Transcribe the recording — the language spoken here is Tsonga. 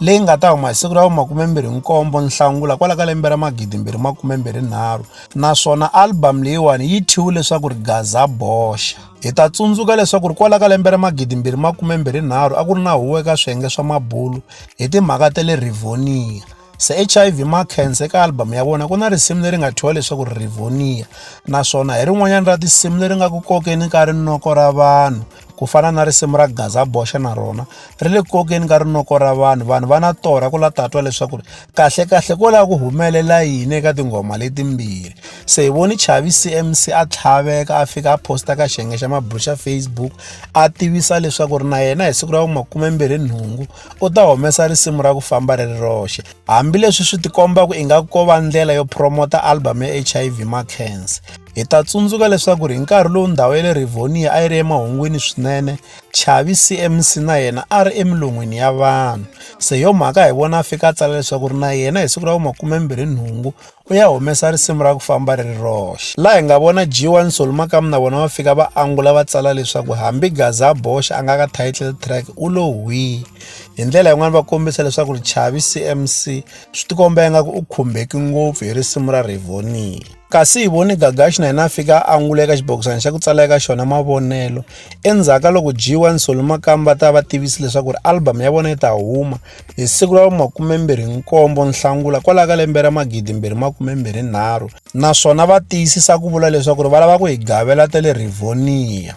leyi nga ta huma hi siku ra vu 27 Nhlangula kwala ka lembe ra 2023 naswona album leyiwani yi thyiwe leswaku ri Gaza Boxa. Hi ta tsundzuka leswaku ri kwala ka lembe ra 2023 a ku ri na huwo eka swiyenge swa mabulu hi timhaka ta le Rivonia. Se hiv Makhensa eka album ya vona ku na risimu leri nga thyiwa leswaku ri Rivonia naswona hi rin'wanyana ra tinsimu leri nga ku kokeni ka rinoko ra vanhu ku fana na risimu ra gaza boxa na rona ri le kokeni ka rinoko ra vanhu vanhu va na torha ku la tatwa leswaku ri kahlekahle ko lava ku humelela yini eka tinghoma letimbirhi se hi voni chavi cmc a tlhaveka a fika a posta ka xiyenge xa mabulu xa facebook a tivisa leswaku ri na yena hi siku ra vumakumembirhi nhungu u ta humesa risimu ra ku famba ri ri roxe hambileswi swi tikomba ku ingaku ko va ndlela yo promota album ya hiv ma cancer Hi ta tsundzuka leswaku hi nkarhi lowu ndhawu ya le Rivonia a yi ri emahungwini swinene, Chavi CMC na yena a ri emilon'wini ya vanhu. Se hi yo mhaka hi vona a fika a tsala leswaku ri na yena hi siku ra vu-28 u ya humesa risimu ra ku famba ri ri roxe. Laha hi nga vona G1 Nsoli Makamu na vona va fika va angula va tsala leswaku hambi Gaza Boxe a nga ka title track u lo hwii. Hi ndlela yin'wana va kombisa leswaku ri Chavi CMC swi tikomba ingaku u khumbeki ngopfu hi risimu ra Rivonia. kasi hi vone gagaxi na yena a fika a angula eka xibokisana xa ku tsala eka xona mavonelo endzhaku ka loko jiwa nsoli makamba va ta va tivisi leswaku ri album ya vona yi ta huma hi siku ra vumakumembirhi nkombo nhlangula kwalaho ka lembe ra magidi mbirhi makumembirhi nharhu naswona va tiyisisa ku vula leswaku ri va lava ku hi gavela ta le rivonia